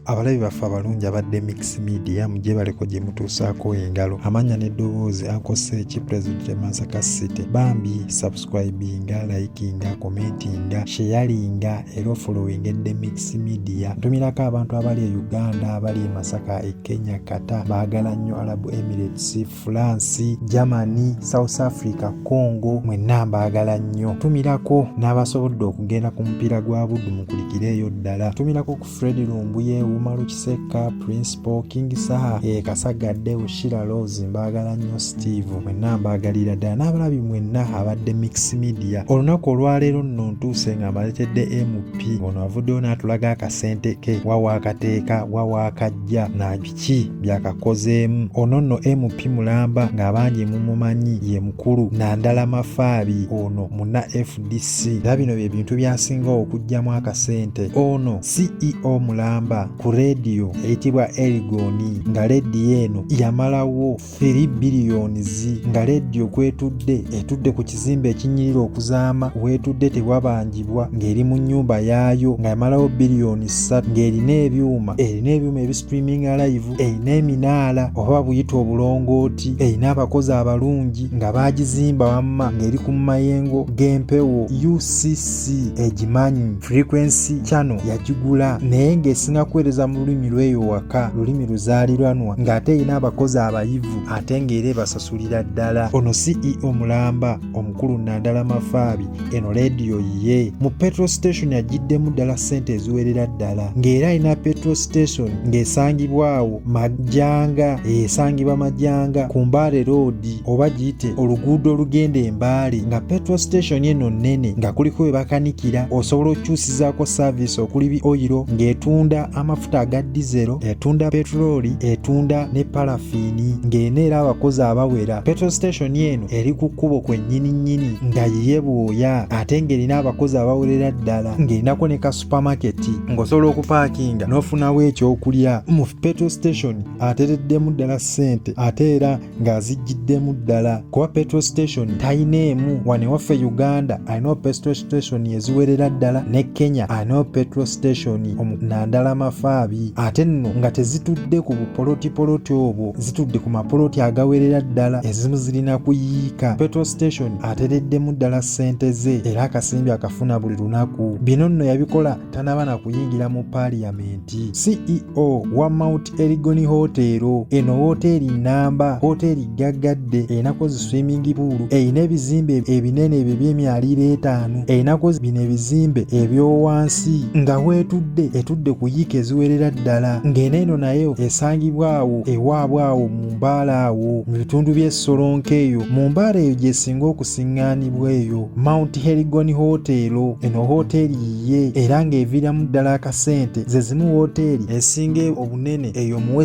abalabi baffe abalungi abadde mix media mugyebaleko gye mutuusaako engalo amanya n'eddoboozi akosse eki president masaka city bambi subscribinga likinga commentinga sheyalinga era ofolowinga edde mix media ntumirako abantu abali e uganda abali e masaka e kenya kata baagala nnyo arabu emirates France, Germany, South Africa, Congo mwenna mbaagala nnyo. Tumirako n'abasobodde okugenda ku mupiira gwa Buddu mukulikireeyo ddala. Tumirako ku Fred Lumbuye, Umaru Kisekka, Principal, King Saha, e Kasagadde, Ushira Rose mbaagala nnyo Steve mwenna mbaagalira ddala n'abalabi mwenna abadde Mix Media. Olunaku olwaleero nno ntuuse nga mbaletedde MP ono avuddeyo n'atulaga akasente ke wawa akateeka wawa akajja ki byakakozeemu ono nno mp mulamba ng'abangi mumumanyi ye mukulu nandala mafaabi ono muna fdc era bino bye bintu byasinga okugyamu akasente ono ceo mulamba ku rediyo eyitibwa erigoni nga rediyo eno yamalawo 3 biliyoni zi nga leediyo kwetudde etudde ku kizimbe ekinyirira okuzaama wetudde tewabanjibwa ng'eri mu nnyumba yaayo nga yamalawo biliyoni ssatu ng'erina ebyuma erina ebyuma ebistreaming alive erina eminaala oba buyita obulongooti erina abakozi abalungi nga baagizimba wamma ng'eri ku mayengo g'empewo ucc egimanyi frequency channel yagigula naye ng'esinga kuweereza mu lulimi lw'eyo waka lulimi luzaaliranwa ng'ate erina abakozi abayivu ate ng'era ebasasulira ddala ono ceo mulamba omukulu nandala mafaabi eno leediyo yiye mu petro station agiddemu ddala ssente eziwerera ddala ng'era alina petro station ng'esangibwawo majanga esangibwa majanga ku mbaale roodi oba giyite oluguudo olugenda embaale nga petro station eno nnene nga kuliko we bakanikira osobola okukyusizaako saaviisi okuli oyiro ng'etunda amafuta aga dizero etunda petulooli etunda ne parafiini ng'eno era abakozi abawera petro station eno eri ku kkubo kwennyini nnyini nga yiye bwoya ate ng'erina abakozi abawerera ddala ng'erinako ne ka supamaketi ng'osobola okupaakinga n'ofunawo ekyokulya mu petro station atereddemu ddala ssente ate era ng'azijjiddemu ddala kuba petrol station talina emu wano ewaffe uganda alinawo petrol station eziwerera ddala ne kenya alinawo petrol station nandala mafaabi ate nno nga tezitudde ku bupolotipoloti obwo zitudde ku mapoloti agawerera ddala ezimu zirina kuyiika petrol station atereddemu ddala ssente ze era akasimbi akafuna buli lunaku bino nno yabikola tanaba na kuyingira mu paaliyamenti ceo wa mount erigoni hoteero eno wooteeri nnamba hoteeri gaggadde erinakozi swimingi puulu erina ebizimbe ebinene ebyo ebyemyaliiro etaano erinakozi bino ebizimbe ebyowansi nga weetudde etudde ku yiika eziwerera ddala ng'eno eno nayo esangibwa awo ewaabwe awo mu mbaala awo mu bitundu by'essolonka eyo mu mbaala eyo gyesinga okusiŋŋaanibwa eyo mount herigoni hoteero eno hoteeri ye era ng'eviiramu ddala akasente ze zimu wooteeri esinga obunene eyo mu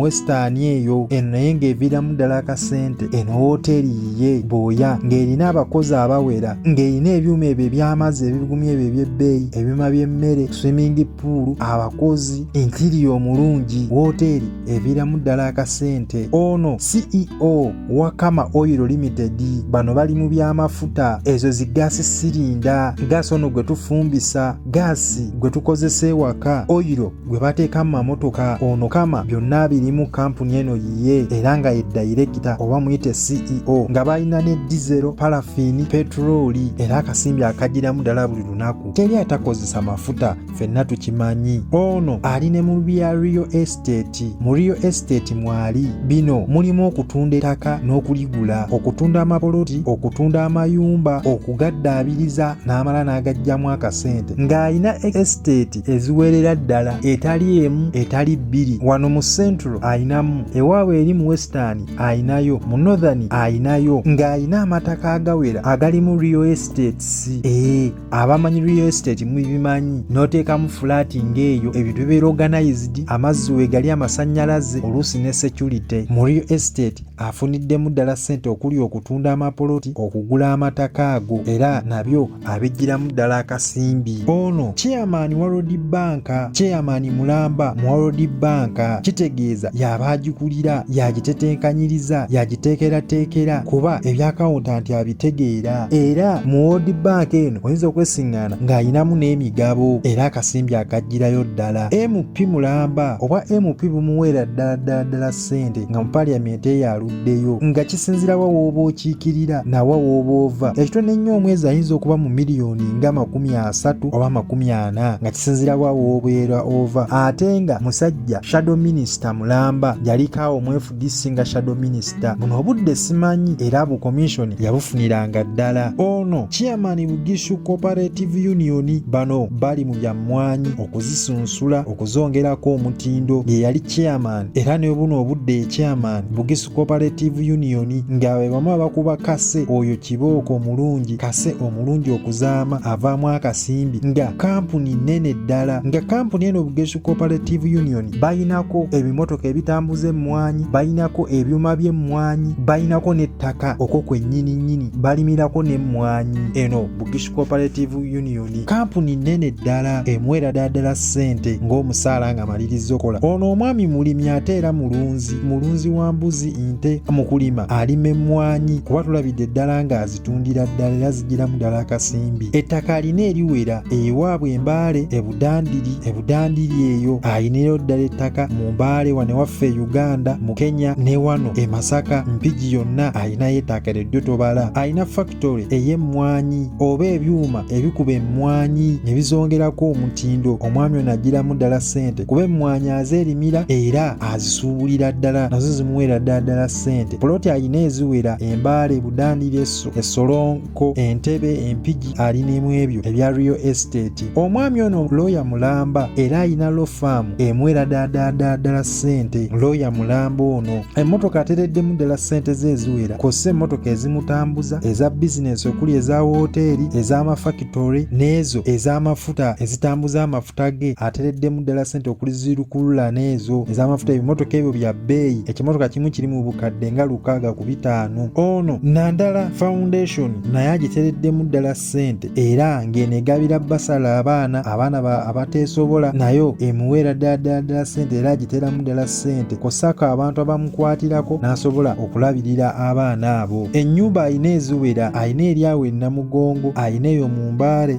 wesitaani eyo eno naye ng'eviiramu ddala akasente eno wooteeri yiye booya ng'erina abakozi abawera ng'erina ebyuma ebyo eby'amazzi ebibigumya ebyo eby'ebbeeyi ebyuma by'emmere swimingi puulu abakozi entiriya omulungi wooteeri eviramu ddala akasente ono ceo wakama oil limited bano bali mu byamafuta ezo zi gaasi sirinda gaasi ono gwe tufumbisa gaasi gwe tukozesa ewaka oyiro gwe bateeka mu mamotoka ono kama byonna abirimu kampuni eno yiye era nga ye dayirekita oba muyite ceo nga balina ne dizero palafini petulooli era akasimbi akagiramu ddala buli lunaku teri atakozesa mafuta fenna tukimanyi ono ali ne mu bya real estate mu real estate mwali bino mulimu okutunda ettaka n'okuligula okutunda amapoloti okutunda amayumba okugaddaabiriza n'amala n'agajjamu akasente ng'alina estate eziwerera ddala etali emu etali bbiri wano mu central alinamu ewaabwe eri mu western alinayo mu northern alinayo ng'alina amataka agawera agalimu real estates ee eh, abamanyi real estate mubimanyi noteekamu fulaati ng'eyo ebintu bibeera organized amazzi wegali amasanyalaze oluusi ne security mu real estate afuniddemu ddala ssente okuli okutunda amapoloti okugula amataka ago era nabyo abijjiramu ddala akasimbi ono chairman wa road banka chairman mulamba mu road banka kitegeeza yaba agikulira yagitetenkanyiriza yagiteekerateekera kuba ebyakawunta nti tegeera era mu World Bank eno oyinza okwesingana ng'alinamu n'emigabo era akasimbi akajjirayo ddala MP mulamba oba MP bumuweera ddala ddala ddala ssente nga mu parliament eyo aluddeyo nga kisinzirawa wooba okiikirira nawa wooba ova ekitone ennyo omwezi ayinza okuba mu miliyoni nga makumi asatu oba makumi ana nga kisinzirawa woobeera ova ate nga musajja shadow minister mulamba yalikaawo mwefu disinga shadow minister buno obudde simanyi era bukomishoni yabufuniranga ddala ono chairman bugishu cooperative union bano bali mu bya mmwanyi okuzisunsula okuzongerako omutindo ye yali chairman era ne buno obudde ye chairman bugisu cooperative union nga be bamu abakuba kase oyo kibooko omulungi kase omulungi okuzaama avaamu akasimbi nga kampuni nnene ddala nga kampuni eno bugishu cooperative union balinako ebimotoka ebitambuza emmwanyi balinako ebyuma by'emmwanyi balinako n'ettaka okwo kwennyini nnyini balimirako n'emmwanyi eno bugish cooperative union kampuni nnene ddala emwera daddala ssente ng'omusaala nga malirizza okola ono omwami mulimi ate era mulunzi mulunzi wa mbuzi nte mu kulima alima emmwanyi kuba tulabidde ddala ng'azi zitundira ddala era zigiramu ddala akasimbi ettaka alina eriwera ewaabwe embaale ebudandiri ebudandiri eyo ayinirayo ddala ettaka mu mbaale wane waffe e uganda mu kenya ne wano e masaka mpigi yonna alinayo ettaka eryo ddyo tobala alina fakitole ey'emmwanyi oba ebyuma ebikuba emmwanyi ne bizongerako omutindo omwami ono agiramu ddala ssente kuba emmwanyi azeerimira era azisuubulira ddala nazo zimuweera ddala ddala ssente Poloti alina eziwera Embaale, Budaani, Lyeso, Essolonko, Entebe, Empigi alina emu ebyo ebya Real Estate. Omwami ono looya mulamba era alina law farm emuwera daadaadaa ddala ssente. Looya mulamba ono emmotoka atereddemu ddala ssente ze eziwera kw'ossa emmotoka ezimutambuza, eza bizinensi okuli eza wooteeri, ez'amafakitole n'ezo ez'amafuta ezitambuza amafuta tutage atereddemu ddala sente okuli zirukulula n'ezo ez'amafuta ebimotoka ebyo bya bbeeyi ekimotoka kimu kiri mu bukadde nga lukaaga ku bitaano ono nandala foundation naye agitereddemu ddala sente era ng'eno egabira basala abaana abaana abateesobola nayo emuweera ddala ddala ddala sente era agiteramu ddala sente kosako abantu abamukwatirako n'asobola okulabirira abaana abo ennyumba alina eziwera alina eryawo ennamugongo alina eyo mu mbaale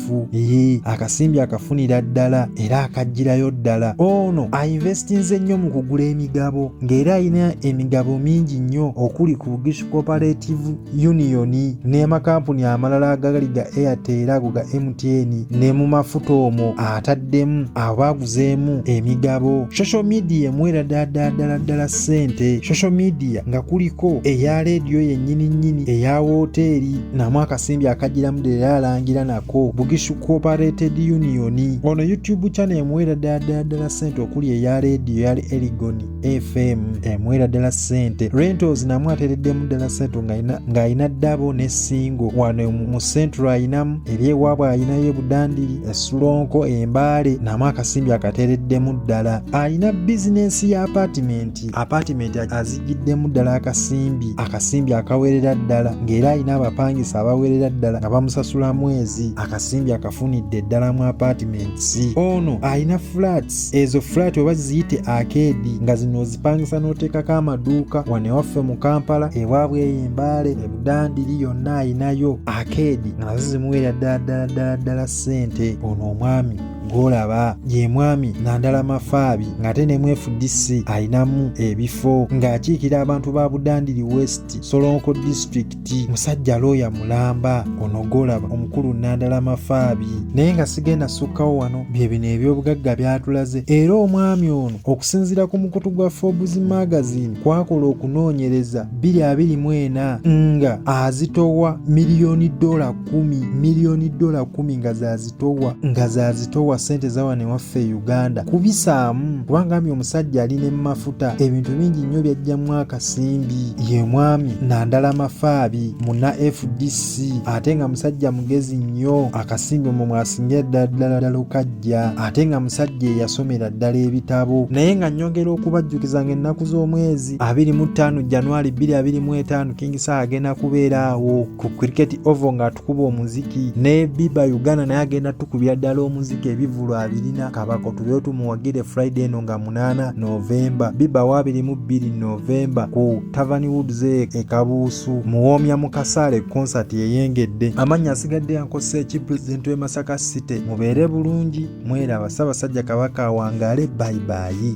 mufu eyi akasimbi akafunira ddala era akajjirayo ddala ono ainvestinze nnyo mu kugula emigabo ng'era alina emigabo mingi nnyo okuli ku bugish cooperative union n'amakampuni amalala agali ga airtel ago ga mtn ne mu mafuta omwo ataddemu abo baaguzeemu emigabo social media emwera dadaddala ddala ssente social media nga kuliko eya leediyo yennyini nnyini eya wooteeri namu akasimbi akajiramu dera alangira nako bugishu cooperated union ono youtube channel emuwera dada dala sente okuli eya radio yali eligon fm emuwera dala sente rentals namu ateredemu dala sente nga ayina dabo ne singo wano mu central ayinamu eri ewabwe ayinayo ebudandiri esulonko embale namu akasimbi akatereddemu ddala ayina bizinesi ya apartment apartment azi giddemu ddala akasimbi akasimbi akawerera ddala ng'era alina abapangisa abawerera ddala nga bamusasula mwezi akasimbi akafunidde ddala mu apartments ono alina flats ezo flat oba ziyite akeedi nga zino ozipangisa n'oteekako amaduuka wano ewaffe mu kampala ewaabwe eyo embaale ebudandiri yonna alinayo akeedi nga nazo zimuwerera ddala ddala ddala ddala ssente ono omwami gwolaba ye mwami nandala mafaabi ng'ate ne mwefudisi alinamu ebifo ng'akiikira abantu ba budandiri west solonko disitulikiti musajja looya mulamba ono gwolaba omukulu nandala mafaabi naye nga sigenda sukkawo wano bye bino ebyobugagga byatulaze era omwami ono okusinziira ku mukutu gwa forbes magazine kwakola okunoonyereza 224 nga azitowa miliyoni dola 1 miliyoni dola 1 nga zazi towa nga zazitowa sente zawano ewaffe e uganda kubisaamu kubanga ami omusajja ali ne mafuta ebintu bingi nnyo byajjamu akasimbi ye mwami nandala mafaabi muna fdc ate nga musajja mugezi nnyo akasimbi omwo mwasingira ddala ddala ddala okajja ate nga musajja eyasomera ddala ebitabo naye nga nyongera okubajjukiza nga ennaku z'omwezi abiri mu ttaano januari bbiri abiri mu etaano kingisaa agenda kubeera awo ku cricket ovo nga atukuba omuziki ne biba uganda naye agenda tukubira ddala omuziki ebivulu abirina kabako tubeyo tumuwagire friday eno nga munaana novemba biba wabiri mu bbiri novemba ku tavani woods e, e kabuusu muwoomya mu kasaale konsati eyengedde amannya asigadde yankosa eki pulezidenti w'e masaka city mubeere bulungi mweraba ssabasajja kabaka awangaale bayibayi